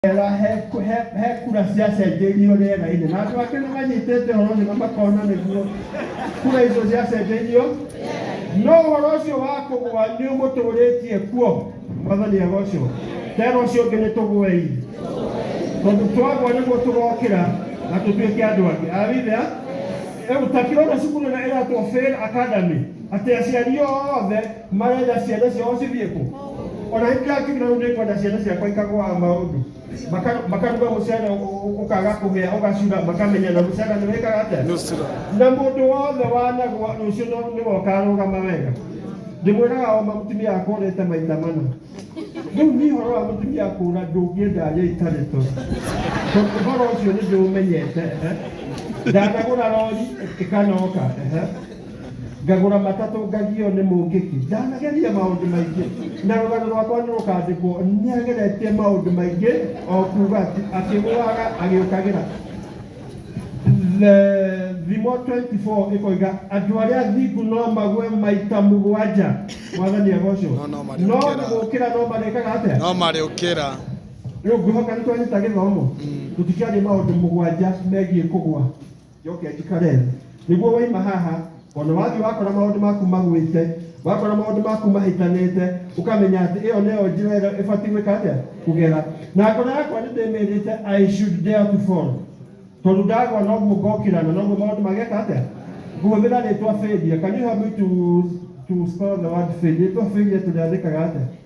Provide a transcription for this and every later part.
Wega, he he- he kura ciacenjeirio rĩera-inĩ na andũ angĩ nĩ manyitĩte ũhoro ũcio na makona nĩguo kura icio ciacenjeirio no ũhoro ũcio wa kũgũa nĩ ũmũtũrĩtie kuo mwathani agocwo tena ũcio ũngĩ nĩ tũgũei tondũ twagwa nĩguo tũgokĩra na tũtuĩke andũ angĩ awithia rĩu ta kĩrona cukuru ĩrĩa ĩratwo fail academy atĩ aciari othe marenda ciana ciao cithiĩ kũ ona ingĩgakinyĩra rĩu nĩkwenda ciana ciakwa ikagũaga maũndũ Maka- makaruga mũcere ũ- ũ- ũkaga kũhĩa ũgacura makamenya na mũcere nĩ wĩkaga atĩa na mũndũ wothe wanagwa rũciũ no- nĩ wokarũgama wega ndĩmwĩraga o ma mũtumia akũrĩte maita mana rĩu niĩ ũhoro wa mũtumia kũra ndũngĩenda aria itarĩ to tondũ ũhoro ũcio nĩ ndĩũmenyete ehe. ndanagũra rori ĩkanoka ehe. ngagũra matatũ ngagio nĩ mũngĩki ndanageria maũndũ maingĩ na rũgano rwakwa nĩ rũkandĩkwo nĩ ageretie maũndũ maingĩ o kuga atĩ akĩgũaga agĩũkagĩra The- thimo 24 ĩkoiga andũ arĩa athingu no magwe maita mũgwanja mwathani agocwo No, no, marĩ no gũkĩra. gũkĩra no marĩkaga atĩa no marĩũkĩra rĩu ngwĩhoka nĩ twanyita gĩthomo tũtikĩaria maũndũ mũgwanja megiĩ kũgwa njoke njikare nĩguo waima haha ona wathiĩ wakora maũndũ maku magwĩte wakora maũndũ maku mahĩtanĩte ũkamenya atĩ ĩyo nĩyo njĩra ĩrĩa ĩbatiĩ gwĩka atĩa kũgera na ngoro yakwa nĩ ndĩmĩrĩte i should dare to fall tondũ ndagwa noguo ngokĩra na noguo maũndũ mageka atĩa ngũhũthĩra rĩtwa failure can you help me to, to spell the word failure rĩtwa failure tũrĩandĩkaga atĩa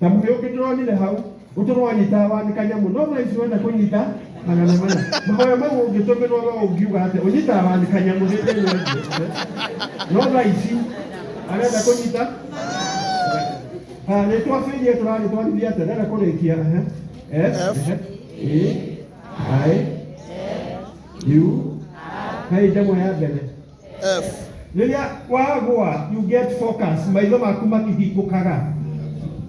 na muhi ungi turonire hau uturwanyitaga wa ni kanyamu no thaa ici wenda kunyita magana mana mahoya mau ungitumirwo we ungiuga ati unyitaga wa ni kanyamu ni ndä no thaa ici arenda kunyita nä twabärie tå rarä twarithia atä renda kå rä kia i u hei ndemwe ya mbere F. rĩrĩa wagwa you get focus maitho maku makĩhingũkaga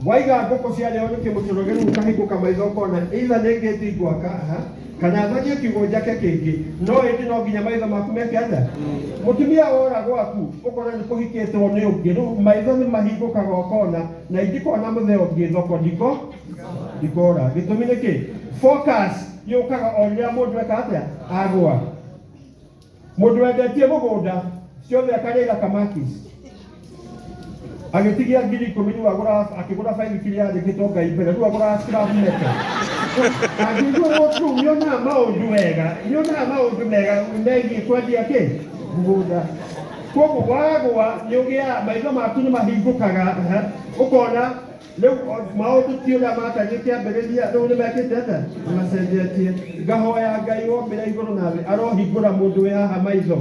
waiga ngũkũ cia rĩo nĩ kĩmũtũro gĩu ũkahingũka maitho ũkona either nĩ ngĩti ngwaka aha kana thagie kiugo njake kĩngĩ no ĩndĩ no nginya maitho maku meke atĩa mũtumia wora gwaku ũkona nĩ kũhikĩtwo nĩ ũngĩ rĩu maitho nĩ mahingũkaga ũkona na ingĩkona mũthee ũngĩ thoko ndiko ndikora gĩtũmi nĩ kĩ focus yũkaga o rĩrĩa mũndũ eka atĩa agwa Mũndũ wendetie mũgũnda ciothe akarĩra Kamakis agĩtigia ngiri ikũmi rĩu agũra akĩgũra bairi kiri yandĩkĩtwo Ngai mbere rĩu agũra scrap metal angĩigua mũtu nĩonaga maũndũ wega nĩonaga maũndũ mega megiĩ kwendia kĩ mũgũnda koguo wagwa nĩũgĩaga maitho maku nĩmahingũkaga ũkona rĩu o- maũndũ ti ũrĩa matariĩ kĩambĩrĩria rĩu nĩ mekĩte atĩa Nĩ macenjetie ngahoya ngai wombĩra igũrũ na thĩ arohingũra mũndũ wĩ haha maitho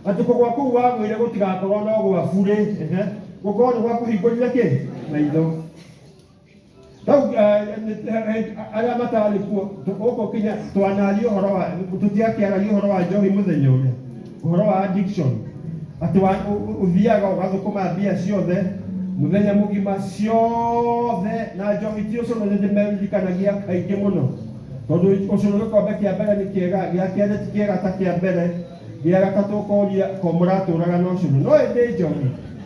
atĩ kũgwa kũu wagwĩre gũtigakorwo no gwaku rĩ ehe, gũkorwo nĩ gwakũhingũrire kĩ maitho rĩu eh, nĩ- eh, eh, arĩa matarĩ kuo tũ- gũkũ kinya twanaria ũhoro wa tũtiakĩaragia ũhoro wa njohi mũthenya ũrĩa Ũhoro wa addiction, atĩ wa, ũ, ũ, ũthiaga ũgathũkũma mbia ciothe mũthenya mũgima ciothe na njohi ti ũcũrũ nĩ ndĩmeririkanagia kaingĩ mũno tondũ ũcũrũ gĩkombe kĩa mbere nĩ kĩega gĩa kerĩ ti kĩega ta kĩa mbere gĩa gatatũ ũkoria ko mũratũraga na ũcũrũ no ĩndĩ njohi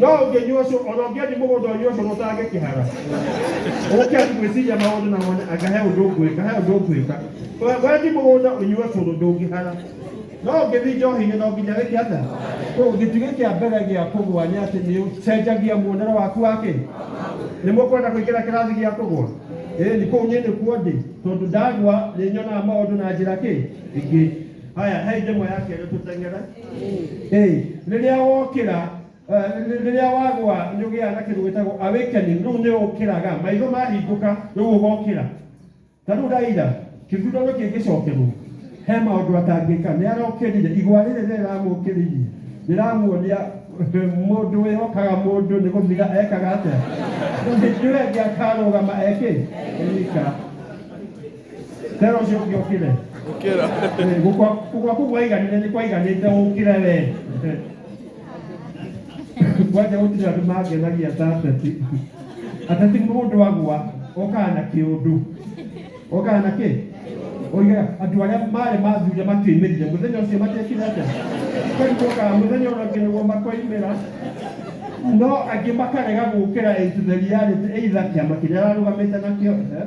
no ũngĩnyua ũcio ona ũngĩendia mũgũnda ũnyue ũcio gũtangĩ kĩhara ũke gwĩciria maũndũ na wone anga he ũndũ ngwĩka he ũndũ ngwĩka We- wendi mũgũnda ũnyue cũrũ ndũngĩhara no ũngĩthi njohi-inĩ no nginya wĩke atĩa Kũ- gĩtugĩ kĩa mbere gĩa kũgwa nĩ atĩ nĩ ũcenjagia muonere waku wakĩ nĩ mũkwenda kũingĩra kĩrathi gĩa kũgwa ĩĩ nĩ kũu niĩ nĩkuo ndĩ tondũ ndagwa nĩ nyonaga maũndũ na njĩra kĩ ingĩ haya he njemo ya kerä tå teng'ere Ĩĩ, rĩrĩa wokĩra eh, rĩ- rĩrĩa wagwa nĩ ũgĩaga na kĩndũ gĩtagwo awakening rĩu nĩ ũkĩraga maitho mahingũka rĩu ũgokĩra ta rĩu raira kĩthurano kĩngĩcokerwo he maũndũ atangĩka nĩ arokĩrire igwa rĩrĩ rĩramũkĩrĩirie rĩramuonia eh, mũndũ wĩhokaga mũndũ nĩ gũthira ekaga atĩa rĩu hĩndĩ ĩyo ĩngĩ akarũgama ekĩ eka Tera ũcio ũngĩ ũkĩre. Ũkĩra. Eh, Gũkwa gũkwa kũu waiganire nĩ kwaiganĩte ũkĩre we. Kwanja gũtirĩ andũ mangenagia ta ateti. Ateti mũndũ agwa okaga na kĩũndũ. Okaga na kĩ? Oigaga andũ arĩa marĩ mathuri makĩimirire mũthenya ũcio matiekire atĩa? Kwani gũkaga mũthenya ũrĩa ũngĩ nĩguo makoimĩra no angĩ makarega gũkĩra ĩtutheriarĩte either kĩama kĩrĩa ararũgamĩte nakĩo eh,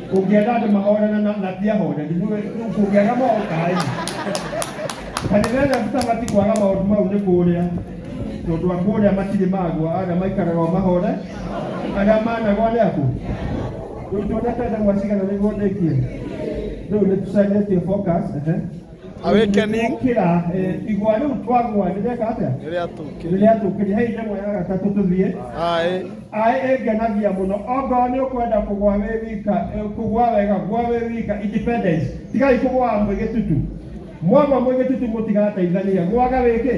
Ũngĩenda andũ mahorana na na ti ahoreri, nĩ we- nĩ kũngĩaga mokaĩ. Kanitha ĩrĩa tũtabati kwaga maũndũ mau nĩ kũrĩa, tondũ a kũrĩa matirĩ magwa, arĩa maikaraga o mahore, arĩa managwa nĩ akũ. Rĩu tuonete ndemwa cigana nĩguo ndĩkie. Rĩu nĩ tũcenjetie focus, ehe. Awakening. kira igwa riu twagwa ndireka atia Rĩrĩa tũkĩrĩ. riria tukiria hei ndemwa ya gatatu tuthie Aĩ. aĩ ĩngenagia mũno ongorwo nĩ ũkwenda kũgwa wĩ wika eh, kũgwa wega gwa wĩ wika independence tigai kũgwa mwĩ gĩtutu mwagwa mwĩ gĩtutu mũtigateithania gwaga wĩkĩ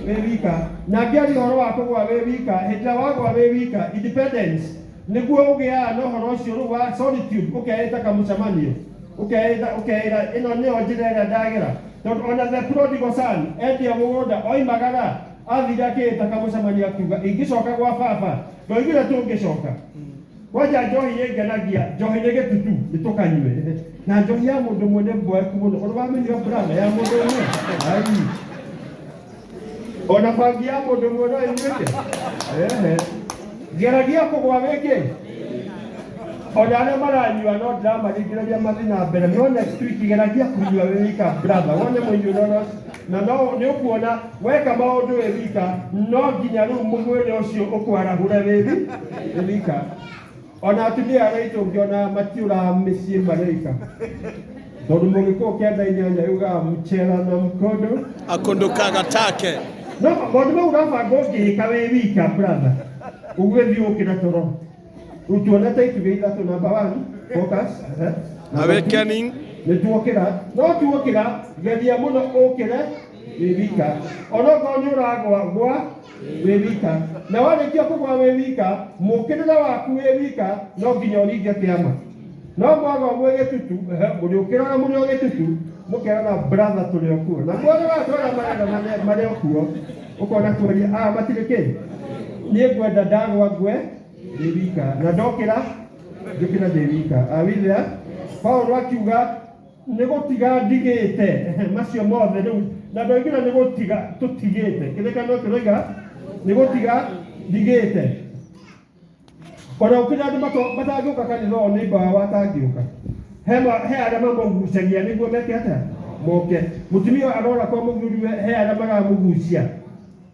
wĩ wika na ngĩari ũhoro wa kũgwa wĩ wika hĩndĩ ĩrĩa wagwa wĩ wika independence nĩguo ũgĩaga na ũhoro ũcio rĩu wa solitude ũkeĩta kamũcemanio Ũkeĩta, ũkeĩra, ĩno nĩyo njĩra ĩrĩa ndagera. Tondũ o na Zebuloni Gosani endia mũgũnda oimagara athire akĩĩta kamũcemanio akiuga, Ingĩcoka gwa baba, ndoigire tũngĩcoka. Kwanja njohi nĩ ngenagia, njohi nĩ gĩtutu, nĩ tũkanyue. Na njohi ya mũndũ ũmwe nĩ mboeku mũno. Ũrĩ wamĩnyua brother, ya mũndũ ũmwe? Aii. ona bangi ya mundu mwe no inyuite ehe geragia kugwa wingi ona arĩa maranyua no ndĩramarĩngĩrĩria mathiĩ na mbere no next week geragia kũnyua wĩ wika brother wone mũnyuno no na no nĩ ũkuona weka maũndũ wĩ wika no nginya rĩu mwĩrĩ ũcio ũkwarahũre wĩ wi- wĩ wika ona atumia arĩa aitũ ngĩona matiũraga mĩciĩ marĩka tondũ mũgĩkũũ kenda inyanya yugaga mchera na mkondo akundukaga take no maũndũ mau ũrabanga ũngĩĩka wĩ wika brother ũgwĩthiĩ ũkĩra toro rĩu tuonete itugĩ ithatũ namba one focus ehe. Number two, awakening nĩ tuokĩra no tuokĩra geria mũno ũkĩre wĩ wika onokorwo nĩ ũragwa gwa wĩ wika na warĩkia kũgwa wĩ wika mũkĩrĩre waku wĩ wika no nginya ũringe kĩama no mwagwa mwĩ gĩtutu ehe, mũrĩũkĩraga mũrĩ o gĩtutu mũkerana brother tũrĩ o kuo na mwonaga andũ arĩa marera mane- marĩ o kuo ũkona tuoria a matirĩ kĩ niĩ ngwenda ndagwa ngwe ndĩ wika na ndokĩra njũkĩra ndĩ wika awithia paulo akiuga nĩ gũtiga ndigĩte macio mothe rĩu na ndoigire nĩ gũtiga tũtigĩte kĩrĩkanĩro kĩroiga nĩ gũtiga ndigĩte ona gũkinya andũ mato- matangĩũka kanitha ũyũ nĩ mbawa watangĩũka he ma- he arĩa mamũgucagia nĩguo meke atĩa moke mũtumia ũyũ arora kwa mũthuriwe he arĩa maramũgucia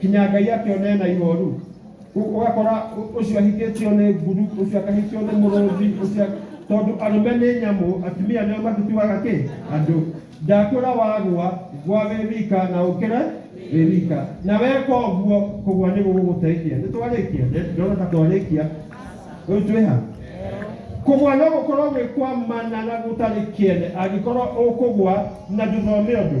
kinya ngai akĩone na ihoru Ũ- ũgakora ũ- ũcio ahikĩtio nĩ nguru ũcio akahikio nĩ mũrũthi ũcio tondũ arũme nĩ nyamũ atumia nĩo matituaga kĩ andũ ndakwĩra wagwa gwa wĩ wika na ũkĩre wĩ wika na weka ũguo kũgwa nĩ gũgũgũteithia nĩ twarĩkia ndona ta twarĩkia rĩu twĩ ha kũgwa no gũkorwo gwĩ kwa mana na gũtarĩ kĩene angĩkorwo ũkũgwa na ndũthome ũndũ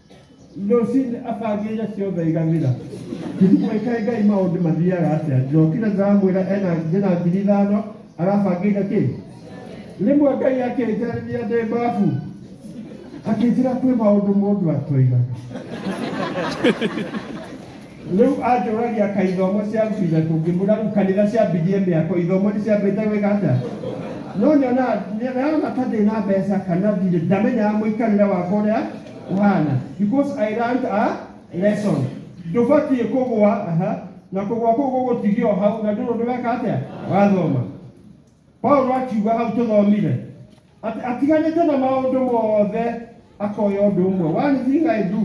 Rũcinĩ abangĩire ciothe aiganĩra. Ũtukũ wĩ kaĩ Ngai maũndũ mathiaga atĩa? Ndokire ndamwĩra ena ndĩna ngiri ithano arabangĩire kĩ? Rĩmwe Ngai akĩnjarĩria ndĩ mbabu akĩnjĩra kwĩ maũndũ mũndũ atoigaga. Rĩu anjũragia ka ithomo cia mbu ithatũ ngĩmwĩra rĩu kanitha ciambirie mĩako ithomo nĩ ciambĩte gwĩka atĩa no nĩona nĩona ta ndĩ na mbeca kana ndirĩ ndamenyaga mũikarĩre wakwa ũrĩa ũhana because I learned a lesson ndũbatiĩ kũgwa aha na kũgwa kũu gũgũtigio hau na ndũrĩ ũndũ weka atĩa wathoma Paulo akiuga hau tũthomire atĩ atiganĩte na maũndũ mothe akoya ũndũ ũmwe one thing I do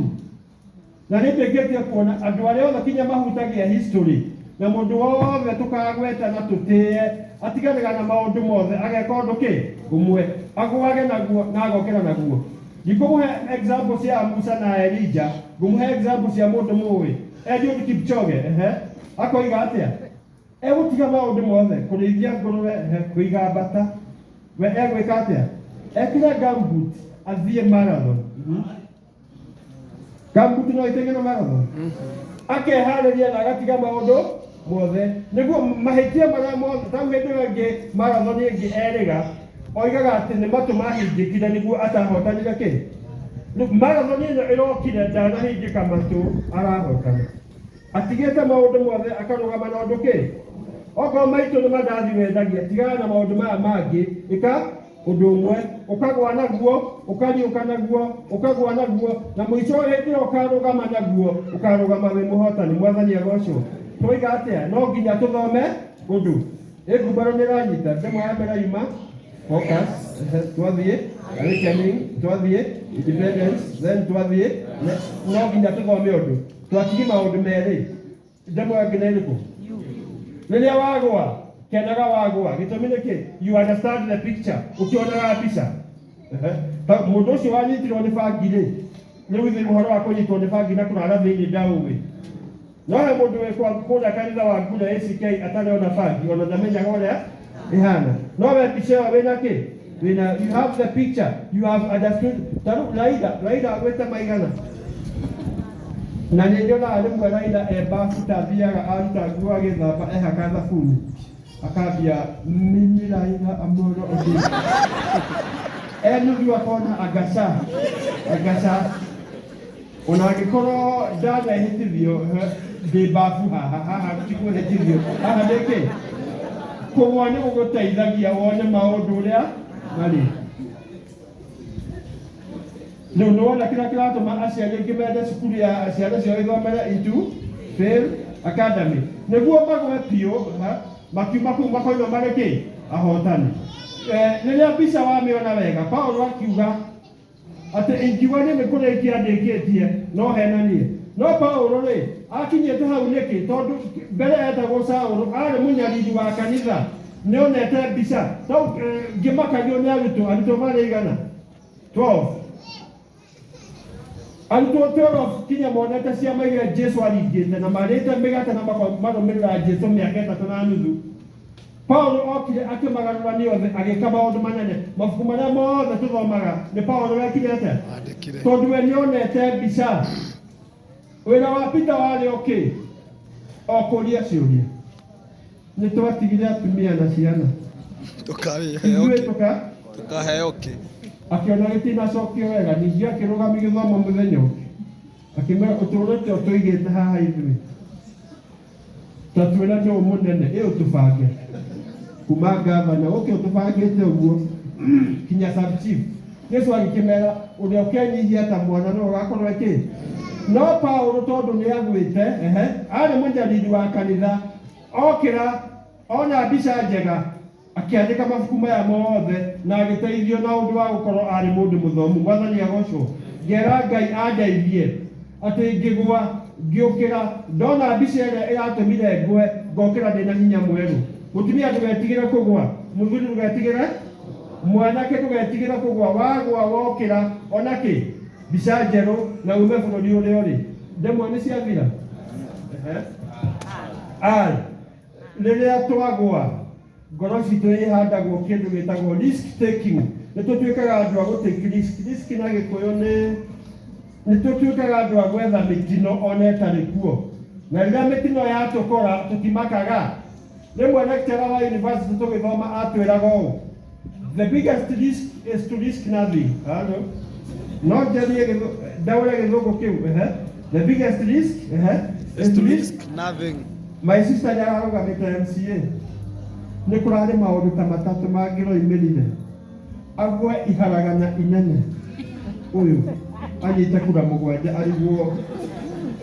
na nĩ ndĩkĩtie kuona andũ arĩa othe kinya mahutagia history na mũndũ wothe tũkagweta na tũtĩe atiganĩga na maũndũ mothe ageka ũndũ kĩ ũmwe agwage naguo na agokĩra naguo ndikũmũhe example cia Musa na Elija ngũmũhe example cia mũndũ mũĩ Eliud Kipchoge ehe akoiga atĩa Egũtiga maũndũ mothe, kũrĩithia ngũrũwe, kũiga mbata, we egwĩka atĩa? Ekĩre gumboot athiĩ marathon. Gumboot no ĩteng'ere marathon? Akeharĩria na agatiga maũndũ mothe nĩguo mahĩtia marĩa mothe tau hĩndĩ ĩyo ĩngĩ marathon ĩngĩ erĩga oigaga atĩ nĩ matũ mahingĩkire nĩguo atahotanire kĩ Rĩu marathon ĩno ĩrokire ndanahingĩka matũ arahotana Atigĩte maũndũ mothe akarũgama na ũndũ kĩ? Okorwo maitũ nĩ mandathi wendagia, tigana na maũndũ maya mangĩ, ĩka ũndũ ũmwe, ũkagwa naguo, ũkariũka naguo, ũkagwa naguo, na mũico hĩndĩ ĩyo ũkarũgama naguo, ũkarũgama wĩ mũhotani. Mwathani agocwo. Twoiga atĩa? No nginya tũthome ũndũ. Ĩngumbarũ nĩ ĩranyita. Ndemwa ya mbere yuma. Focus. Ehe, Twathiĩ. Awakening. Twathiĩ. Independence. Then twathiĩ. Ne- No nginya tũthome ũndũ. Twatigie maũndũ merĩ ndemwe angĩ nĩ ĩrĩkũ rĩrĩa wagwa kenaga wagwa gĩtũmi nĩ kĩ you understand the picture ũkĩonaga mbica Ehe. Ta mũndũ ũcio wanyitirwo nĩ bangi rĩ nĩ withe ũhoro wa kũnyitwo nĩ bangi na kũrara thĩinĩ ndaũĩ no he mũndũ wĩkwa kũrĩa kanitha wa ngura ACK atarĩ ona bangi ona ndamenyaga ũrĩa Rehana. No be mbica ĩyo wĩna kĩ? Wĩna you have the picture. You have understood. Taru Laida, Laida agwĩte maigana. Na nĩ nyonaga rĩmwe Laida e bafu ta athiaga aruta nguo agĩthamba ehaka thabuni. Akambia mimi Laida amoro ũndũ. Enu akona agaca. Agaca. O na angĩkorwo ndanehĩtithio he- ndĩ mbabu haha haha ti kũhĩtithio haha nĩkĩ kũgwa nĩ gũgũteithagia wone maũndũ ũrĩa marĩ rĩu nĩ wona kĩrĩa kĩratũma aciari aingĩ mende cukuru ya ciana ciao ithomere itu fail academy nĩguo magwe biũ ha, makiuma kũu makoima marĩ kĩ ahotani Eh, rĩrĩa mbica wamĩona wega paulo akiuga atĩ ingiuga niĩ nĩ kũrĩkia ndĩkĩtie no henanie no paũlũ rĩ akinyĩte hau nĩkĩ tondũ mbere etagwo saũlũ arĩ mũnyariri wa kanitha nĩ onete mbica no eh, ngĩmakagio nĩ arutwo arutwo marĩ igana 12 arutwo 12 kinya monete ciama iria jesu aringĩte na marĩte mĩgate na mako- marũmĩrĩra jesu mĩaka ĩtatũ na nuthu Paulo okire akĩmagarũra nĩ othe agĩka maũndũ manene mabuku marĩa mothe tũthomaga nĩ Paulo wekire atĩa Andĩkire. tondũ we nĩonete mbica wĩra wa Peter warĩ ũkĩ o kũria ciũria nĩ twatigire atumia na ciana Tũkaheo ithuĩ kĩ? tũka Tũkaheo kĩ? akĩona gĩtinacokio wega ningĩ akĩrũgama gĩthomo mũthenya ũngĩ akĩmwĩra ũtũũrĩte ũtũigĩte haha ithuĩ Tatwĩra nũũ mũnene ĩ ũtũbange kuma ngavana ũke ũtũbangĩte ũguo kinya sub chief Yesu agĩkĩmera ũrĩa ũkenyihia ta mwana no ũgakorwo ĩkĩ no Paulo tondũ nĩ agwĩte ehe arĩ mũnyariri wa kanitha okĩra ona mbica njega Akĩandĩka mabuku maya mothe na agĩteithio na ũndũ wa gũkorwo arĩ mũndũ mũthomu. Mwathani agocwo. Ngera Ngai andeithie atĩ ngĩgwa, ngĩũkĩra, ndona mbica ĩrĩa ĩratũmire ngwe, ngokĩra ndĩ na hinya mwerũ. Mũtumia ndũgetigĩre kũgwa, mũthuri ndũgetigĩre, mwanake ndũgetigĩre kũgwa, wagwa wokĩra, ona kĩ? Mbica njerũ na ume bũrũri ũrĩa ũrĩ. Ndemwa nĩ ciathira? Ehe. Ai. Rĩrĩa twagwa, ngoro citũ ihandagwo kĩndũ gĩtagwo risk taking. Nĩ tũtuĩkaga andũ a gũtĩki risk. Risk na gĩkũyũ nĩ nĩ tũtuĩkaga andũ a gwetha mĩtino ona ĩtarĩ kuo. Na rĩrĩa mĩtino yatũkora tũtimakaga. Rĩmwe lecturer wa university tũgĩthoma atwĩraga ũũ, The biggest risk is to risk nothing. Hello? Not the real dawa ya kidogo kiu. Eh? The biggest risk eh? is to risk nothing. My sister yararũgamĩte MCA nĩ kũrarĩ maũndũ ta matatũ mangĩroimĩrire agwe iharagana inene ũyũ anyite kura mũgwanja ariguo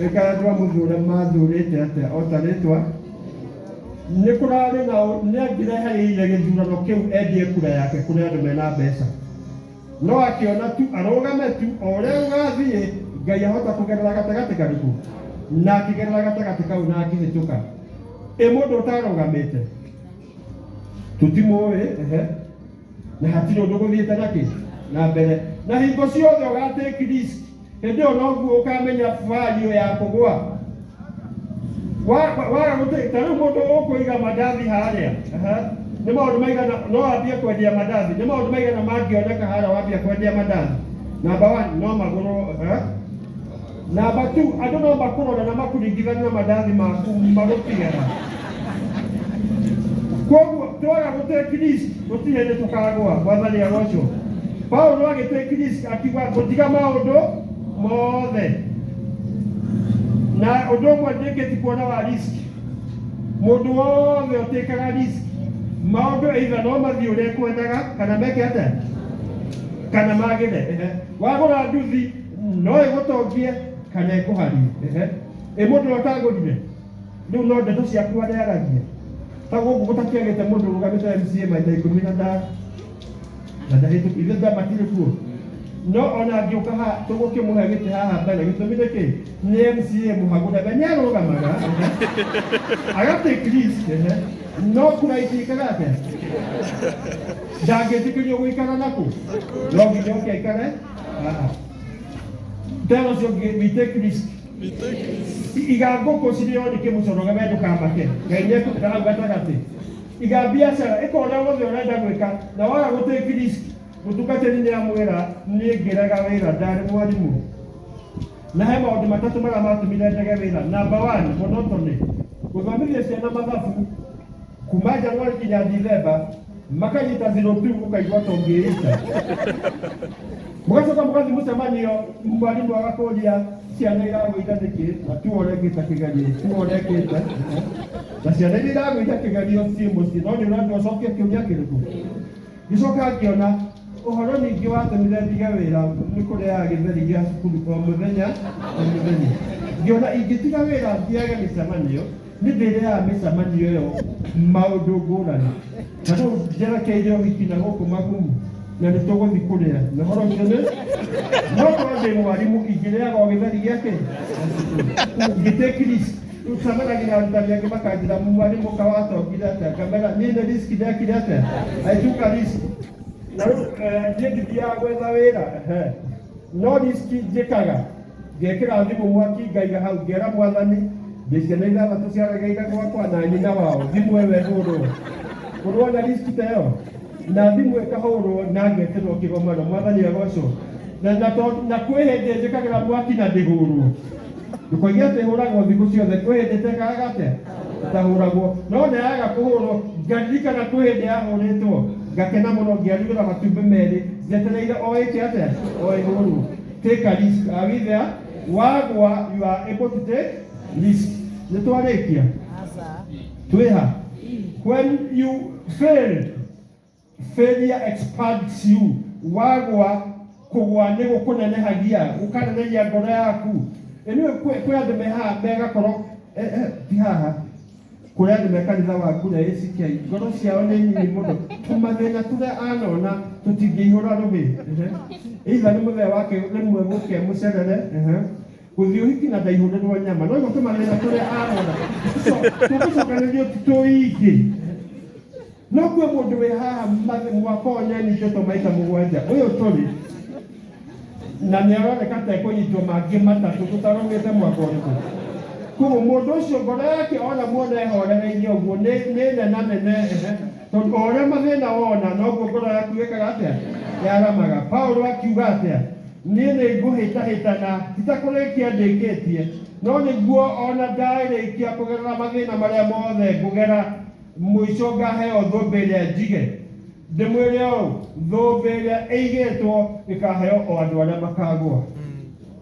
ĩkaya twa mũthũra mathũrĩte atĩa o ta rĩtwa Nĩ kũrarĩ na nĩ angĩrehereire gĩthurano kĩu endie kura yake kũrĩ andũ mena mbeca, no akĩona tu arũgame tu o ũrĩa gũgathiĩ, Ngai ahota kũgerera gatagatĩ karĩkũ, na akĩgerera gatagatĩ kau na akĩhĩtũka. Ĩ mũndũ ũtarũgamĩte tũtimũĩ? Ehe. na hatirĩ ũndũ gũthiĩte na kĩ na mbere na hingo ciothe ũgatake risk hĩndĩ ĩyo noguo ũkamenya value ya kũgwa Wa- waga gũtĩ ta rĩu mũndũ ũkũiga mandathi harĩa aha, nĩ maũndũ maigana no wambie kwendia mandathi nĩ maũndũ maigana mangĩoneka harĩa wambia kwendia mandathi namba one no magũrwo aha. Na aba tu andũ no makũrora na makuringithanie na mandathi maku magũtigera. Kwoguo twaga gũtake risk gũtirĩ hĩndĩ tũkagwa, mwathani agocwo. Paulo agĩtake risk akiuga gũtiga maũndũ mothe. Na ũndũ ũmwe ndĩkĩti kuona wa risk, mũndũ wothe ũtĩkaga risk, maũndũ either no mathiĩ ũrĩa ekwendaga kana meke atĩa kana magĩre. Ehe. Wagũra nduthi no ĩgũtongie kana ĩkũharie. Ehe. Ĩ mũndũ ũrĩa ũtagũrire rĩu no ndeto ciaku harĩa yaragia ta gũkũ gũtakĩagĩte mũndũ ũrũgamĩte MCA maita ikũmi na ta na ndahĩtũki ithuĩ ta matirĩ kuo no ona angĩũka ha tũgũkĩmũhe gĩtĩ haha mbere gĩtũmi nĩ kĩ nĩ MCA mũhagũre we nĩ arũgamaga ehe. agatake risk ehe. no kura itingĩkaga atĩa njangĩtĩkĩrio gũikara nakũ no nginya oke aikare haha tell us your game we take risk iga ngũkũ cirĩo nĩ kĩmũcoroge we ndũkamake ngai nĩekũtĩra hau gatagatĩ iga biacara ĩka ũrĩa wothe ũrenda gwĩka na waga gũtĩki risk mũtungatĩri nĩ amwĩra nĩ ngĩraga wĩra ndarĩ mwarimũ na he maũndũ matatũ marĩa matũmire ndege wĩra namba one monotony gũthomithia ciana mathabu kuma januari nginya dithemba makanyita 02 ũkaigua tongĩĩita mũgacoka mũgathiĩ mũcemanio mwarimũ agakũria ciana iragũitha nĩkĩ na tu ũrekĩte kĩgerio tu ũrekĩte na ciana iria iragũitha kĩgerio ciĩ mũciĩ no nĩ ũrathiĩ ũcokie kĩũria kĩrĩkũ Ngĩcoka ngĩona ũhoro ningĩ watũmire ndige wĩra nĩ kũrĩaga gĩtheri gĩa cukuru o mũthenya o mũthenya. Ngĩona ingĩtiga wĩra thiage mĩcemanio, nĩ ndĩrĩaga mĩcemanio ĩyo maũndũ ngũrani. Ta rĩu njerekeire ũhiki na gũkũ Magumu na nĩ tũgũthiĩ kũrĩa. Na ũhoro ũcio nĩ no korwo ndĩ mwarimũ ingĩrĩaga o gĩtheri gĩa kĩ? Ngĩtĩkirisi. Rĩu ngamera gĩgarutanio angĩ makanjĩra muma nĩ mũka watongire atĩa ngamera niĩ nĩ riski ndekire atĩa aituka riski na rĩu eh, niĩ ngithiaga gwetha wĩra ehe. no riski njĩkaga ngekĩra thimũ mwaki ngaiga hau ngera mwathani ndĩ ciana ithathatũ ciaregeire gwakwa na nyina wao thimũ ĩyo ĩhũrwo kũrwo na riski ta ĩyo na thimũ ĩkahũrwo na ngeterwo kĩgomano mwathani agocwo na na to- na kwĩ hĩndĩ njĩkagĩra mwaki na ndĩhũrwo ndũkoiga atĩ hũragwo thikũ ciothe kwĩ hĩndĩ tekaga atĩa ndahũragwo no na yaga kũhũrwo ngaririkana kwĩ hĩndĩ yahũrĩtwo ngakena mũno ngĩarugĩra matumbĩ merĩ njetereire o ĩke atĩa o ĩhũrwo take a risk are we there wagwa you are able to take risk nĩ twarĩkia Twiha. When you fail, failure expands you. Wagwa kugwa nĩ gũkũnenehagia, gũkanenehagia ngoro yaku. Ĩnĩ kwĩ andũ me haha megakorwo eh, eh, ti haha kũrĩa andũ me kanitha wa ngura ACK ngoro ciao nĩ nyinyi mũno tũmathĩna tũrĩa anona tũtingĩihũra rũhĩ Ehe. either nĩ mũthee wake rĩmwe mũke mũcerere Ehe. gũthiĩ ũhiki na ndaihũrĩrwo nyama no igo tũmagĩrĩra tũrĩa arona so tũgũcokanĩrio tũingĩ no kuo mũndũ wĩ haha ma- mwaka ũyũ nĩanyitĩtwo maita mũgwanja ũyũ tũrĩ na nĩ aroneka ta ekũnyitwo mangĩ matatũ tũtarũmĩte mwaka ũrĩkũ koguo mũndũ ũcio ngoro yake ona muona ehorereirie ũguo nĩ nĩ nenanene ehe Tondũ o ũrĩa mathĩna wona, noguo ngoro yaku ĩkaga atĩa? Yaramaga. Paulo akiuga atĩa? Niĩ nĩ ngũhĩtahĩta na itakũrĩkia ndĩkĩtie, no nĩguo o na ndarĩkia kũgerera mathĩna marĩa mothe ngũgera, mũico ngaheo thũmbĩ ĩrĩa njige. Ndĩmwĩre ũũ, thũmbĩ ĩrĩa ĩigĩtwo ĩkaheo o andũ arĩa makagũa.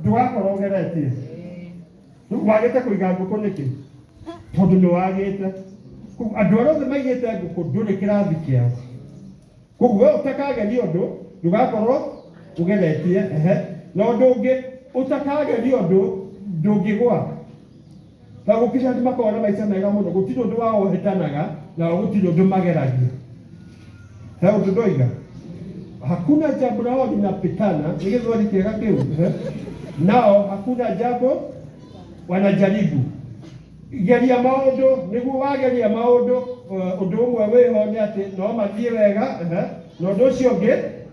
ndũgakorwo ũgeretie wagĩte kũiga ngũkũ nĩkĩ tondũ nĩ wagĩte Kũ- andũ arĩa othe maigĩte ngũkũ ndũrĩ kĩrathi kĩao koguo we ũtakageria ũndũ ndũgakorwo ũgeretie ehe na ũndũ ũngĩ ũtakageria ũndũ ndũngĩgwa na gũkinya hĩndĩ makoragwo na maica mega mũno gũtirĩ ũndũ wao ũhĩtanaga nao gũtirĩ ũndũ mageragia he ũndũ ndoiga hakuna jambo lao linapitana nĩ gĩthweri kĩega kĩu eh? nao hakuna jambo wanajaribu geria maũndũ nĩguo wageria maũndũ eh, ũndũ ũmwe wĩho nĩ atĩ no mathiĩ wega eh, na ũndũ ũcio ũngĩ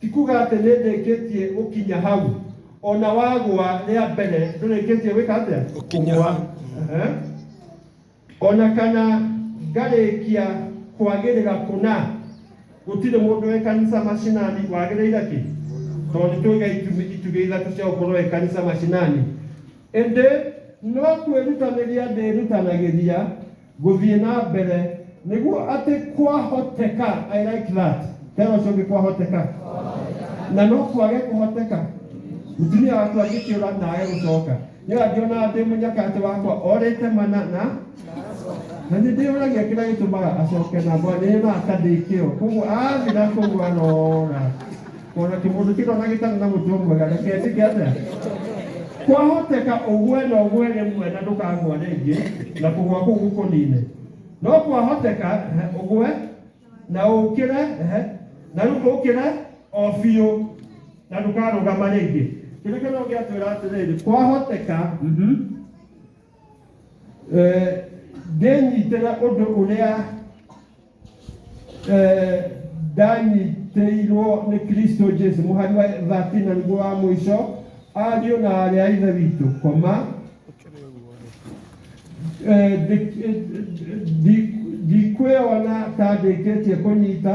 Ti kuga atĩ nĩ ndĩkĩtie gũkinya hau. O na wagũa rĩa mbere ndũrĩkĩtie gwĩka atĩa? Gũkinya Kũgũa. hau. Aha. O na kana ngarĩkia kwagĩrĩra kũna. Gũtirĩ mũndũ wĩ kanitha macinani wagĩrĩire kĩ? Tondũ nĩ tũiga itumi itugĩ ithatũ cia gũkorwo wĩ kanitha macinani. Ĩndĩ no kwĩrutanĩria ndĩrutanagĩria Gũthiĩ na mbere, nĩguo atĩ kwahoteka, I like that. Tera ũcio ũngĩ kwahoteka. Na no kwage kũhoteka. Mũtumia waku angĩkĩũra na age gũcoka. Nĩ angĩona ndĩ mũnyakatĩ wakwa orĩte mana na na nĩ ndĩyũragia kĩrĩa gĩtũmaga acoke na mwana nĩ yonaga ta ndĩ kĩo. Koguo athira kũu arora. ona kimũthukitho na gĩtarĩ na mũtuo mwega ndaketĩke atĩa kwahoteka ũgwe na ũgwe rĩmwe na ndũkagwa rĩngĩ na kũgwa kũu gũkũnine no kwahoteka ehe, ũgwe na ũkĩre ehe, na rĩu ũkĩre o biũ na ndũkarũgama rĩngĩ kĩrĩa kĩno gĩatwĩra atĩrĩrĩ kwahoteka mhm, eh, ndĩnyitĩre ũndũ ũrĩa Eh, ndanyitĩirwo nĩ kristo jesu mũhari wa 13 na nĩguo wa mũico ariũ na arĩ a ithe witũ koma Eh, ndi- ndi- ndikwĩona ta ndĩkĩtie kũnyita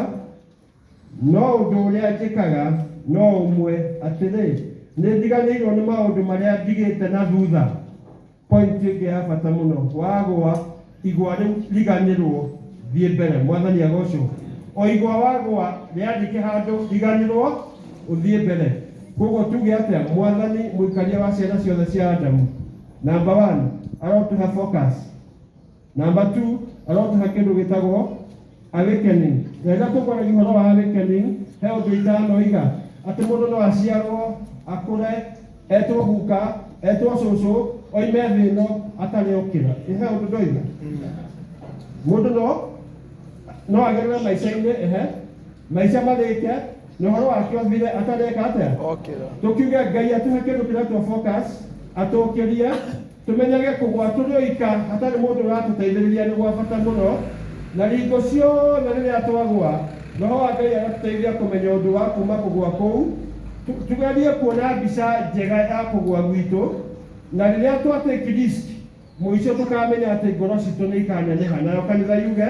No ũndũ ũrĩa njĩkaga no ũmwe, atĩrĩ, nĩ ndiganĩirwo nĩ maũndũ marĩa ndigĩte na thutha. Pointi ĩngĩ ya bata mũno, wagũa igwa rĩu riganĩrwo, thiĩ mbere. Mwathani agocwo. O igwa wagũa rĩandĩke handũ riganĩrwo, ũthiĩ mbere. Kwoguo tuge atĩa? Mwathani mũikaria wa ciana ciothe cia Adamu, namba one, arotũhe focus. Namba tu arotaha kĩndũ gĩtagwo awakening. Na rĩrĩa tũkwaragia ũhoro wa awakening, he ũndũ itanoiga atĩ mũndũ no aciarwo akũre etwo guka etwo cũcũ oime thĩ ĩno atarĩ okĩra. Ĩ he ũndũ ndoiga? Mũndũ no no agerere maica-inĩ ehe maica marĩke na ũhoro wake ũthire atareka atĩa? Okĩra. Tũkiuge Ngai atũhe kĩndũ kĩretwo focus atũkĩrie Tũmenyage kũgũa tũrĩoika hatarĩ mũndũ ũratũteithĩrĩria nĩ gwa bata mũno, na hingo ciothe rĩrĩa twagũa, roho wa Ngai agatũteithia kũmenya ũndũ wa kuuma kũgũa kũu. Tũgerie kuona mbica njega ya kũgũa gwitũ, na rĩrĩa twatĩkirist mũico tũkamenya atĩ ngoro citũ nĩ ikaneneha, nayo kanitha yuge.